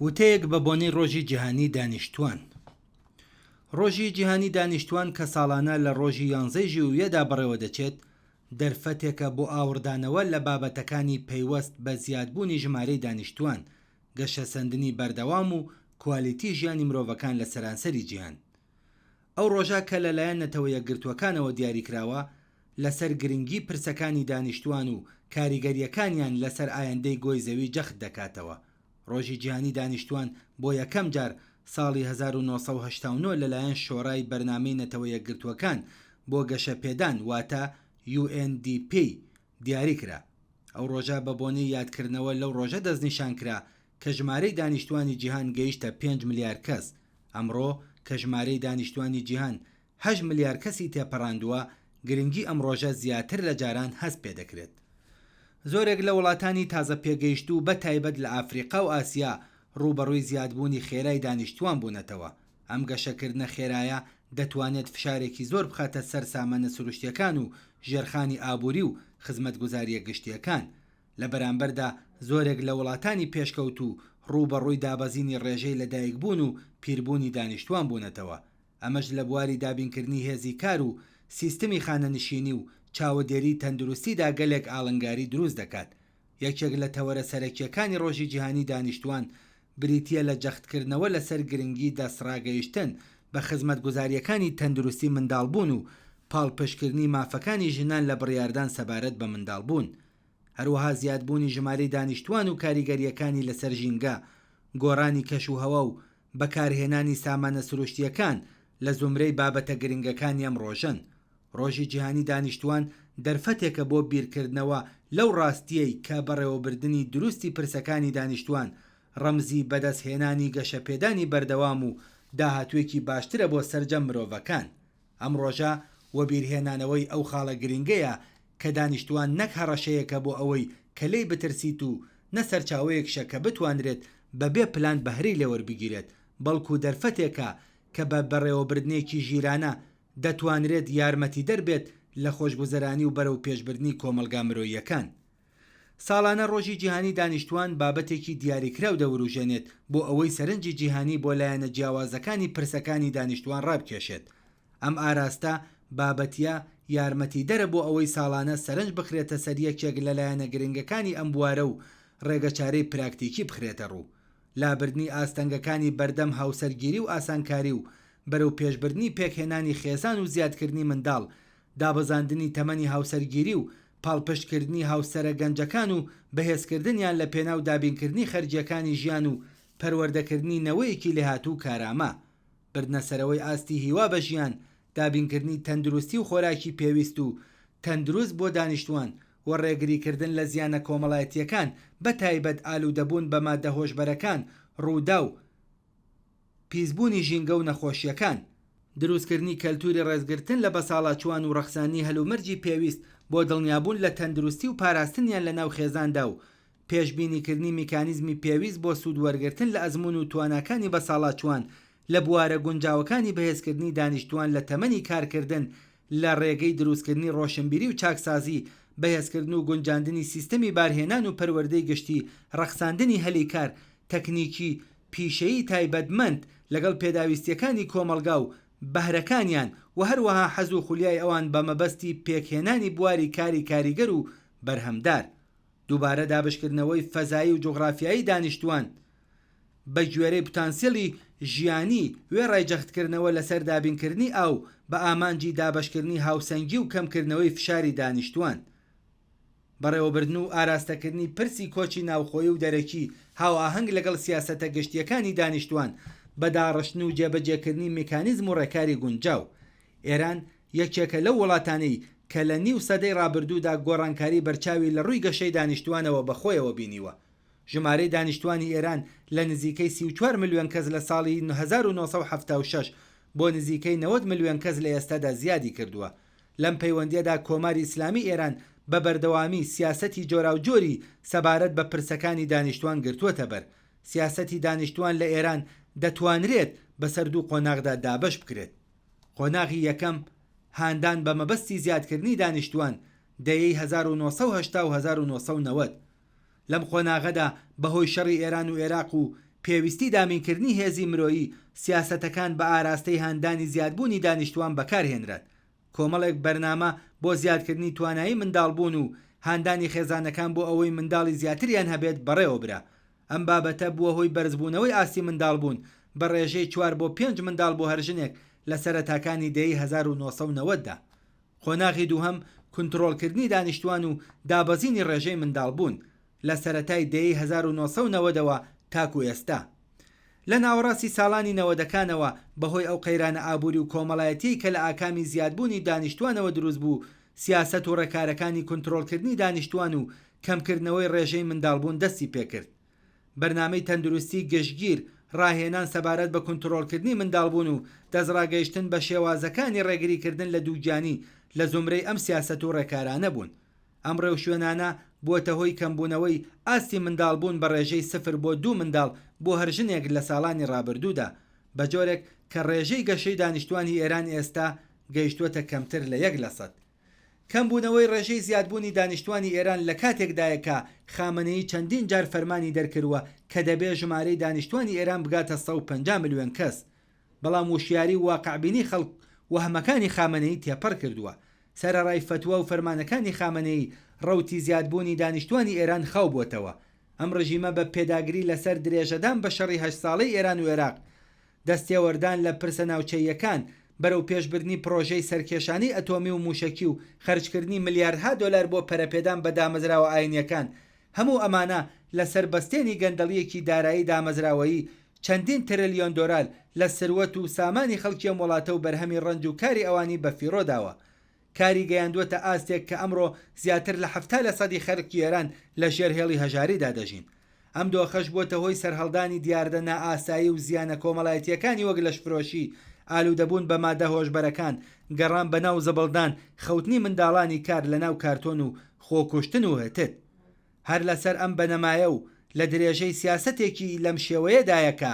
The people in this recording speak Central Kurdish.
وتەیەک بە بۆنەی ڕۆژی جیهانی دانیشتووان ڕۆژی جیهانی دانیشتووان کە ساڵانە لە ڕۆژی یانزەی ژوویەدا بەڕێوەدەچێت دەرفەتێکە بۆ ئاوڕدانەوە لە بابەتەکانی پەیوەست بە زیادبوونی ژمارەی دانیشتووان، گەشەسەندنی بەردەوام و کوالیتی ژیانی مرۆڤەکان لە سەرانسەری جیهان. ئەو ڕۆژە کە لەلایەن نەتەوە یەکگرتووەکانەوە دیاریکراوە، لەسەر گرنگی پرسەکانی دانیشتووان و کاریگەرییەکانیان لەسەر ئایندەی گۆی زەوی جەخت دەکاتەوە. ڕۆژی جیهانی دانیشتووان بۆ یەکەم جار ساڵی هەزار و نۆ سەد و هەشتا و نۆ لەلایەن شۆرای بەرنامەی نەتەوە یەکگرتووەکان بۆ گەشەپێدان واتە UNDP دیاری کرا. ئەو ڕۆژە بە بۆنەی یادکردنەوە لەو ڕۆژە دەستنیشان کرا کە ژمارەی دانیشتووانی جیهان گەیشتە پێنج ملیار کەس. ئەمڕۆ کە ژمارەی دانیشتووانی جیهان هەشت ملیار کەسی تێپەڕاندووە، گرنگی ئەم ڕۆژە زیاتر لە جاران هەست پێ دەکرێت. زۆرێک لە وڵاتانی تازە پێگەیشتوو بە تایبەت لە ئەفریقا و ئاسیا ڕووبەڕووی زیادبوونی خێرای دانیشتووان بوونەتەوە، ئەم گەشەکردنە خێرایە دەتوانێت فشارێکی زۆر بخاتە سەر سامانە سروشتیەکان و ژێرخانی ئابووری و خزمەتگوزاریە گشتیەکان، لە بەرامبەردا زۆرێک لە وڵاتانی پێشکەوتوو ڕووبەڕووی دابەزینی ڕێژەی لەدایکبوون و پیربوونی دانیشتووان بوونەتەوە، ئەمەش لە بواری دابینکردنی هێزی کار و سیستمی خانەنشینی و چاوەدێریی تەندروستیدا گەلێک ئاڵنگاری دروست دەکات. یەکێک لە تەوەرە سەرەکییەکانی ڕۆژی جیهانیی دانیشتووان بریتییە لە جەختکردنەوە لەسەر گرنگیی دەستڕاگەیشتن بە خزمەتگوزارییەکانی تەندروستی منداڵبوون و پاڵپشتکردنی مافەکانی ژنان لە بڕیاردان سەبارەت بە منداڵبوون. هەروەها زیادبوونی ژمارەی دانیشتووان و کاریگەرییەکانی لەسەر ژینگە، گۆڕانی کەشوهەوا و بەکارهێنانی سامانە سروشتییەکان لە زومرەی بابەتە گرنگەکانی ئەم ڕۆژەن. ڕۆژی جیهانی دانیشتووان دەرفەتێکە بۆ بیرکردنەوە لەو ڕاستییەی کە بەڕێوەبردنی دروستی پرسەکانی دانیشتووان ڕەمزی بەدەستهێنانی گەشەپێدانی بەردەوام و داهاتووێکی باشترە بۆ سەرجەم مرۆڤەکان. ئەم ڕۆژە وەبیرهێنانەوەی ئەو خاڵە گرنگەیە کە دانیشتوان نەک هەڕەشەیەکە بۆ ئەوەی کە لێی بترسیت و نە سەرچاوەیەکشە کە بتوانرێت بە بێ پلان بەهرەی لێوەربگیرێت بەڵکو دەرفەتێکە کە بە بەڕێوەبردنێکی ژیرانە دەتوانرێت یارمەتیدەر بێت لە خۆشگوزەرانی و بەرەوپێشبردنی کۆمەڵگا مرۆییەکان ساڵانە ڕۆژی جیهانی دانیشتووان بابەتێکی دیاریکراو دەوروژێنێت بۆ ئەوەی سەرنجی جیهانی بۆ لایەنە جیاوازەکانی پرسەکانی دانیشتووان ڕابکێشێت. ئەم ئاراستە بابەتییە یارمەتیدەرە بۆ ئەوەی ساڵانە سەرنج بخرێتە سەر یەکێک لە لایەنە گرنگەکانی ئەم بوارە و ڕێگەچارەی پراکتیکی بخرێتە ڕوو لابردنی ئاستەنگەکانی بەردەم هاوسەرگیری و ئاسانکاری و بەرەوپێشبردنی پێکهێنانی خێزان و زیادکردنی منداڵ دابەزاندنی تەمەنی هاوسەرگیری و پاڵپشتکردنی هاوسەرە گەنجەکان و بەهێزکردنیان لەپێناو دابینکردنی خەرجییەکانی ژیان و پەروەردەکردنی نەوەیەکی لێهاتوو و کارامە، بردنەسەرەوەی ئاستی هیوا بە ژیان، دابینکردنی تەندروستی و خۆراکی پێویست و تەندروست بۆ دانیشتووان و ڕێگریکردن لە زیانە کۆمەڵایەتییەکان بەتایبەت ئالوودەبوون بە ماددە هۆشبەرەکان، ڕووداو، پیسبوونی ژینگە و نەخۆشییەکان. دروستکردنی کەلتووری ڕێزگرتن لە بەساڵاچووان و ڕەخساندنی هەلومەرجی پێویست بۆ دڵنیابوون لە تەندروستی و پاراستنیان لە ناو خێزاندا و پێشبینیکردنی میکانیزمی پێویست بۆ سوود وەرگرتن لە ئەزموون و تواناکانی بەساڵاچووان لە بوارە گونجاوەکانی بەهێزکردنی دانیشتووان لە تەمەنی کارکردن لە ڕێگەی دروستکردنی ڕۆشنبیری و چاکسازی، بەهێزکردن و گونجاندنی سیستەمی بارهێنان و پەروەردەی گشتی، ڕەخساندنی هەلی کار، تەکنیکی، پیشەیی تایبەتمەند لەگەڵ پێداویستییەکانی کۆمەڵگا و بەهرەکانیان و هەروەها حەز و خولیای ئەوان بە مەبەستی پێکهێنانی بواری کاری کاریگەر و بەرهەمدار. دووبارە دابەشکردنەوەی فەزایی و جوغرافیایی دانیشتووان بە گوێرەی پتانسیلی ژیانی، وێڕای جەختکردنەوە لەسەر دابینکردنی ئاو بە ئامانجی دابەشکردنی هاوسەنگی و کەمکردنەوەی فشاری دانیشتووان. بەڕێوەبردن و ئاراستەکردنی پرسی کۆچی ناوخۆیی و دەرەکی هاوئاهەنگ لەگەڵ سیاسەتە گشتییەکانی دانیشتووان بە داڕشتن و جێبەجێکردنی میکانیزم و ڕێکاری گونجاو. ئێران یەکێکە لەو وڵاتانەی کە لە نیو سەدەی ڕابردوودا گۆڕانکاری بەرچاوی لە ڕووی گەشەی دانیشتووانەوە بە خۆیەوە بینیوە. ژمارەی دانیشتووانی ئێران لە نزیکەی سی و چوار ملیۆن کەس لە ساڵی هەزار و نۆ سەد و حەفتا و شەش بۆ نزیکەی نەوەد ملیۆن کەس لە ئێستادا زیادی کردووە. لەم پەیوەندییەدا کۆماری ئیسلامی ئێران بە بەردەوامی سیاسەتی جۆراوجۆری سەبارەت بە پرسەکانی دانیشتووان گرتووەتە بەر. سیاسەتی دانیشتووان لە ئێران دەتوانرێت بەسەر دوو قۆناغدا دابەش بکرێت. قۆناغی یەکەم، هاندان بە مەبەستی زیادکردنی دانیشتووان، دەیەی هەزار و نۆ سەد و هەشتا و هەزار و نۆ سەد و نەوەد. لەم قۆناغەدا بەهۆی شەڕی ئێران و ئێراق و پێویستی دامینکردنی هێزی مرۆیی، سیاسەتەکان بە ئاراستەی هاندانی زیادبوونی دانیشتووان بەکارهێنران. کۆمەڵێک بەرنامە بۆ زیادکردنی توانایی منداڵبوون و هاندانی خێزانەکان بۆ ئەوەی منداڵی زیاتریان هەبێت بەڕێوەبرا، ئەم بابەتە بووە هۆی بەرزبوونەوەی ئاستی منداڵبوون بە ڕێژەی چوار بۆ پێنج منداڵ بۆ هەر ژنێک لە سەرەتاکانی دەیەی هەزار و نۆ سەد و نەوەد دا. قۆناغی دووهەم کونتڕۆڵکردنی دانیشتووان و دابەزینی ڕێژەی منداڵبوون، لە سەرەتای دەیەی هەزار و نۆ سەد و نەوەد ەوە تاکوو ئێستا. لە ناوەڕاستی ساڵانی نەوەدەکانەوە بەهۆی ئەو قەیرانە ئابووری و کۆمەڵایەتییەی کە لە ئاکامی زیادبوونی دانیشتووانەوە دروست بوو، سیاسەت و ڕێکارەکانی کونترۆڵکردنی دانیشتووان و کەمکردنەوەی ڕێژەی منداڵبوون دەستی پێکرد. بەرنامەی تەندروستی گشتگیر، ڕاهێنان سەبارەت بە کونترۆڵکردنی منداڵبوون و دەستڕاگەیشتن بە شێوازەکانی ڕێگریکردن لە دووگیانی لە زومرەی ئەم سیاسەت و ڕێکارانە بوون. ئەم ڕێوشوێنانە بووەتە هۆی کەمبوونەوەی ئاستی منداڵبوون بە ڕێژەی سفر بۆ دوو منداڵ بۆ هەر ژنێک لە ساڵانی ڕابردوودا، بەجۆرێک کە ڕێژەی گەشەی دانیشتووانی ئێران ئێستا گەیشتووەتە کەمتر لە یەک لەسەد. کەمبوونەوەی ڕێژەی زیادبوونی دانیشتووانی ئێران لە کاتێکدایە کە خامەنەیی چەندین جار فەرمانی دەرکردووە کە دەبێ ژمارەی دانیشتووانی ئێران بگاتە سەد و پەنجا ملیۆن کەس، بەڵام وشیاری و واقعبینی خەڵک وەهمەکانی خامەنەیی تێپەڕ کردووە. سەرەڕای فەتوا و فەرمانەکانی خامەنەیی، ڕەوتی زیادبوونی دانیشتووانی ئێران خاو بۆتەوە. ئەم ڕژیمە بە پێداگری لەسەر درێژەدان بە شەڕی هەشت ساڵەی ئێران و ئێراق، دەستێوەردان لە پرسە ناوچەییەکان، بەرەوپێشبردنی پڕۆژەی سەرکێشانەی ئەتۆمی و مووشەکی و خەرجکردنی ملیاردها دۆلار بۆ پەرەپێدان بە دامەزراوە ئاینییەکان، هەموو ئەمانە لەسەر بەستێنی گەندەڵییەکی دارایی دامەزراوەیی چەندین ترلیۆن دۆرال لە سروەت و سامانی خەڵکی ئەم وڵاتە و بەرهەمی ڕەنج و کاری ئەوانی بەفیڕۆ داوە. کاری گەیاندووەتە ئاستێک کە ئەمڕۆ زیاتر لە حەفتا لەسەدی خەرکی ئێران لە ژێر هێڵی هەژاریدا دەژین. ئەم دۆخەش بووەتە هۆی سەرهەڵدانی دیاردە نائاسایی و زیانە کۆمەڵایەتییەکانی وەک لەشفرۆشی، ئالوودەبوون بە مادە هۆشبەرەکان، گەڕان بە ناو زبڵدان، خەوتنی منداڵانی کار لە ناو کارتۆن و خۆکوشتن و. هتد. هەر لەسەر ئەم بنەمایە و لە درێژەی سیاسەتێکی لەم شێوەیەدایە کە،